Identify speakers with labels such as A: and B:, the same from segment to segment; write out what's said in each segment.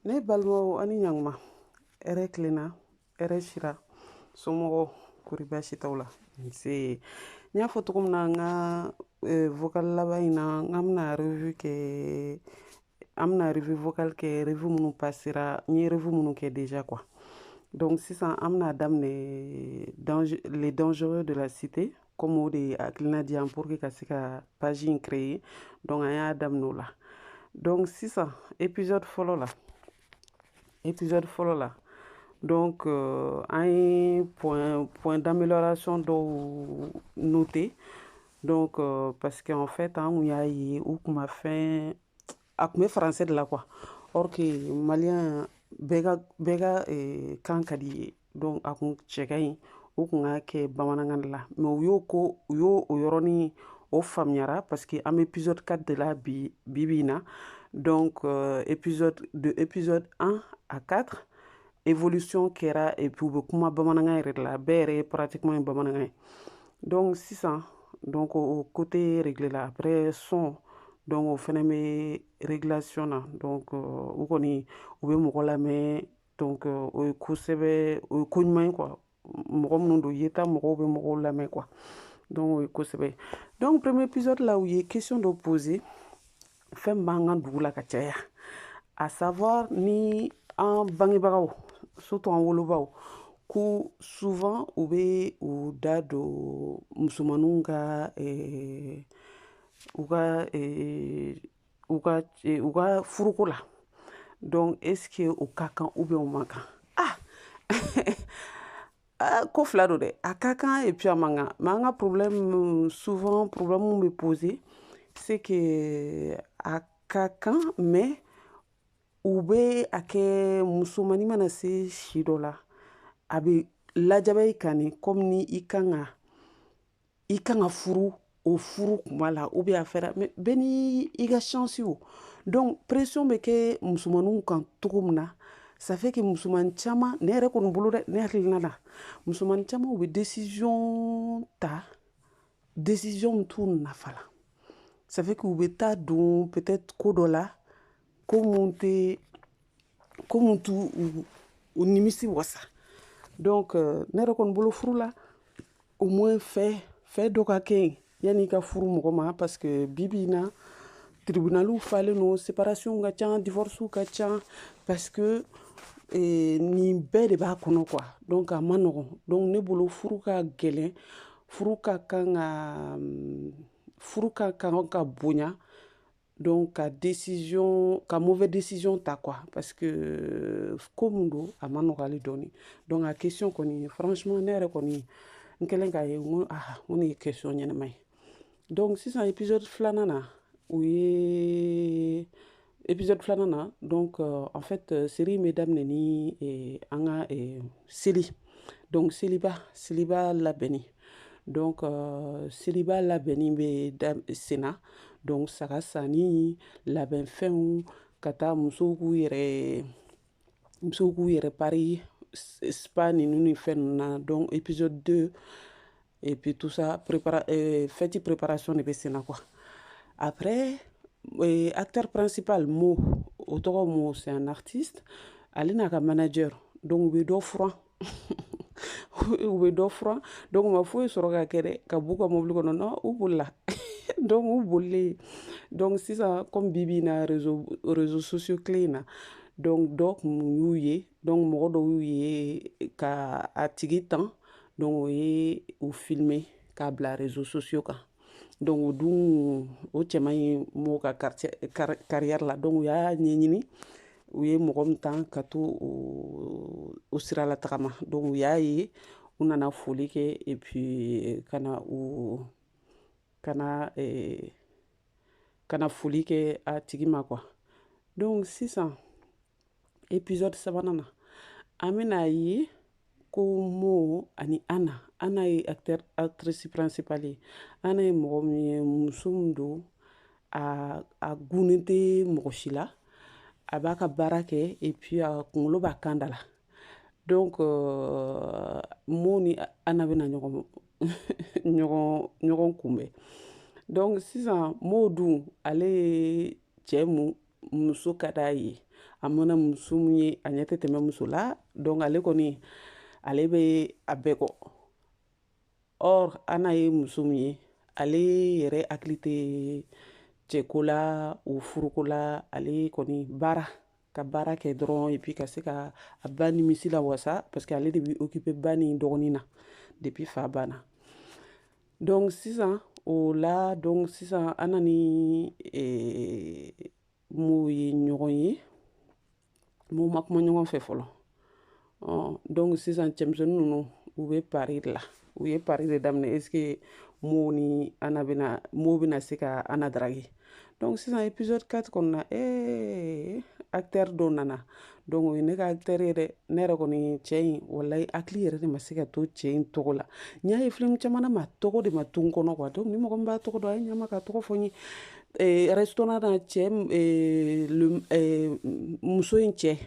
A: ne balimaw ani ɲanguma hɛrɛ tilenna hɛrɛ sira somɔgɔw kori baasi t'aw la nse n y'a fɔ cogo min na n ka eh, vocal laban in na an bɛna revue kɛ an bɛna revue vocal kɛ revue minnu passera n ye revue minnu kɛ déjà quoi donc sisan an bɛna daminɛ les dangereux de la cité comme o de hakilina di yan pour que ka se ka page in créer donc an y'a daminɛ o la donc sisan épisode fɔlɔ la épisode fɔlɔ la donc euh, an ye point point d'amélioration dɔw noter donc euh, parce que en fait an kun y'a ye u kuma fanba kun bɛ français de la quoi or que maliyɛn bɛɛ ka bɛɛ ka eh, kan ka di ye donc a kun cɛ ka ɲi u kun k'a kɛ bamanankan de la mais u y'o ko u y'o o yɔrɔnin o faamuyara parce que an bɛ épisode 4 de la bi bi bi in na donc euh, épisode de épisode 1 à 4 évolution kɛra et puis u bɛ kuma bamanankan yɛrɛ de la bɛɛ yɛrɛ ye pratiquement ye bamanankan ye donc sisan donc o côté réglé la après son donc o fana bɛ réglation na donc euh, u kɔni u bɛ mɔgɔ lamɛn donc o ye ko sɛbɛ o ye ko ɲuman ye quoi mɔgɔ minnu don yeta mɔgɔw bɛ mɔgɔw lamɛn quoi donc o ye ko sɛbɛ donc premier épisode la u ye question dɔ poser fɛn min b'an ka dugu la ka caya à savoir ni an bangebagaw surtout an wolobaw ko souvent u bɛ u da don musomaninw ka eh, u ka eh, u ka e, u ka furuko la donc est ce que o ka kan ou bien o man kan ah ah, ko fila don dɛ a ka kan et puis a man kan mais an ka problème souvent problème min bɛ poser c'est que a ka kan mais u bɛ a kɛ musomani mana se si dɔ la a bɛ lajaba i kan ni comme ni i kan ka i kan ka furu o furu kuma la u bɛ a fɛ bɛɛ n'i ka chance o don pression bɛ kɛ musomanw kan cogo min na ça fait que musoman caman ne yɛrɛ kɔni bolo dɛ ne hakilina na musoman caman bɛ décision ta décision min t'u nafa la ça fait que u bɛ taa don peut-être ko dɔ la ko minnu tɛ ko min t'u u nimisi wasa donc euh, ne yɛrɛ kɔni bolo furu la au moins fɛn fɛn dɔ ka kɛ yen yanni i ka furu mɔgɔ ma parce que bi bi in na tribunaliw falen don séparation ka ca divorce ka ca parce que eh, nin bɛɛ de b'a kɔnɔ quoi donc a man nɔgɔn donc ne bolo furu ka gɛlɛn furu ka kan ka mm, furu ka kan ka bonya donc ka décision ka mauvais décision ta quoi parce que ko mun don a ma nɔgɔ ale dɔɔni donc a question kɔni franchement ne yɛrɛ kɔni n kɛlen k'a ye n ko ah n ko nin ye question ɲɛnama ye donc sisan épisode filanan na o ye épisode filanan na donc euh, en fait euh, série in bɛ daminɛ ni eh, an ka eh, seli donc seliba seliba labɛnni donc euh, seliba labɛnni bɛ senna donc saga sanni labɛnfɛnw ka taa musow k'u yɛrɛ musow k'u yɛrɛ pari spa ninnu ni fɛn ninnu na donc episode 2 et puis tout ça prépara euh, fête préparation de bɛ senna quoi après euh, acteur principal mo o tɔgɔ mo c'est un artiste ale n'a ka manager donc u bɛ dɔ furan u bɛ dɔ furan donc u ma foyi sɔrɔ ka kɛ dɛ ka b'u ka mobili kɔnɔ non u bolila donc u bolilen donc sisan comme bi bi in na réseau réseaux sociaux tile in na donc dɔ kun y'u ye donc mɔgɔ dɔ y'u ye ka a tigi tan donc o ye u filmer k'a bila réseaux sociaux kan donc o dun o cɛ man ɲi mo ka kariyɛri la donc u y'a ɲɛɲini u ye mɔgɔ min tan ka to o sira la tagama donc u y'a ye u nana foli kɛ et puis ka na u ka na eh, ka na foli kɛ a tigi ma quoi donc sisan episode sabanan na an bɛna a ye ko mo ani ana ana ye acteur actrice principale ye ana ye mɔgɔ min ye muso min don a a gunnen tɛ mɔgɔ si la a b'a ka baara kɛ et puis a kunkolo b'a kan da la donc euh, mo ni ana bɛna ɲɔgɔn ɲɔgɔn ɲɔgɔn kunbɛn donc sisan mo dun ale ye cɛ min muso ka d'a ye a mana muso min ye a ɲɛ tɛ tɛmɛ muso la donc ale kɔni ale bɛ a bɛɛ kɔ or ana ye muso min ye ale yɛrɛ hakili tɛ cɛko la ou furuko la ale kɔni baara ka baara kɛ dɔrɔn epi ka se ka a ba nimisi lawasa parce que ale de bɛ okipe ba ni dɔgɔnin na depi fa banna donc sisan o la donc sisan ana ni eh, mo ye ɲɔgɔn ye mais u ma kuma ɲɔgɔn fɛ fɔlɔ ɔ donc sisan cɛmisɛnnin ninnu u bɛ pari de la u ye pari de daminɛ est ce que mo ni ana bɛna mo bɛna se ka ana draguer donc sisan épisode 4 kɔnɔna ee acteur dɔ nana donc o ye ne ka acteur ye dɛ ne yɛrɛ kɔni cɛ in walayi hakili yɛrɛ de ma se ka to cɛ in tɔgɔ la n y'a ye film caman na mais a tɔgɔ de ma to n kɔnɔ quoi donc ni mɔgɔ min b'a tɔgɔ dɔn a ye ɲa n ma k'a tɔgɔ fɔ n ye eh, restaurant na cɛ eh, le, eh, muso in cɛ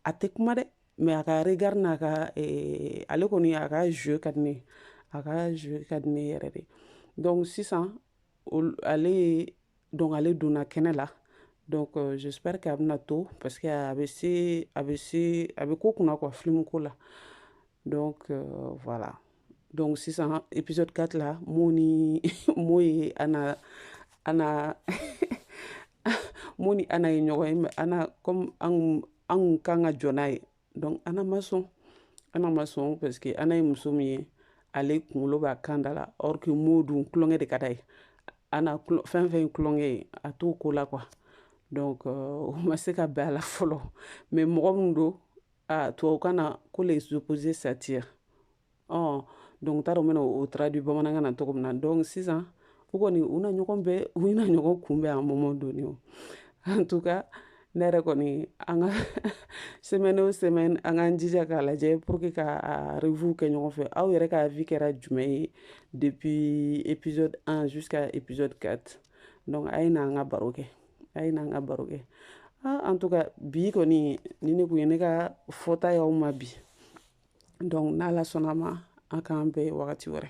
A: a tɛ kuma dɛ mais a ka regard n'a ka eh, ale kɔni a ka jeu ka di ne ye a ka jeu ka di ne yɛrɛ de donc sisan ale donc ale donna kɛnɛ la donc j'espère que a bɛna to parce que a bɛ se a bɛ se a bɛ ko kunna ka filimu ko la voilà donc sisan épisode 4 la mo ni mo ye ah mo ni ana ye ɲɔgɔn ye an ka jɔn ye donc ana ma sɔn ana ma sɔn parce que ana ye muso min ye ale kunkolo b'a kan da la or que mo dun tulonkɛ de ka d'a ye ana fɛn fɛn ye tulonkɛ ye a t'o ko la quoi donc euh, o ma se ka bɛn a la fɔlɔ mais mɔgɔ min don a tubabukan na ko les opposés s'attirent ɔ donc n t'a dɔn n bɛn'o traduire bamanankan na cogo min na donc sisan u kɔni u na ɲɔgɔn bɛn u na ɲɔgɔn kunbɛn an mɔmɔ doni o en tout cas ne yɛrɛ kɔni an ka semaine o semaine an k'an jija k'a lajɛ pour que ka a revue kɛ ɲɔgɔn fɛ aw yɛrɛ ka avis kɛra jumɛn ye depuis épisode 1 jusqu'à épisode 4 donc a ye na an ka baro kɛ a ye na an ka baro kɛ ah, en tout cas bi kɔni nin de tun ye ne ka fɔta y'aw ma bi donc n'ala sɔnn'a ma an k'an bɛn wagati wɛrɛ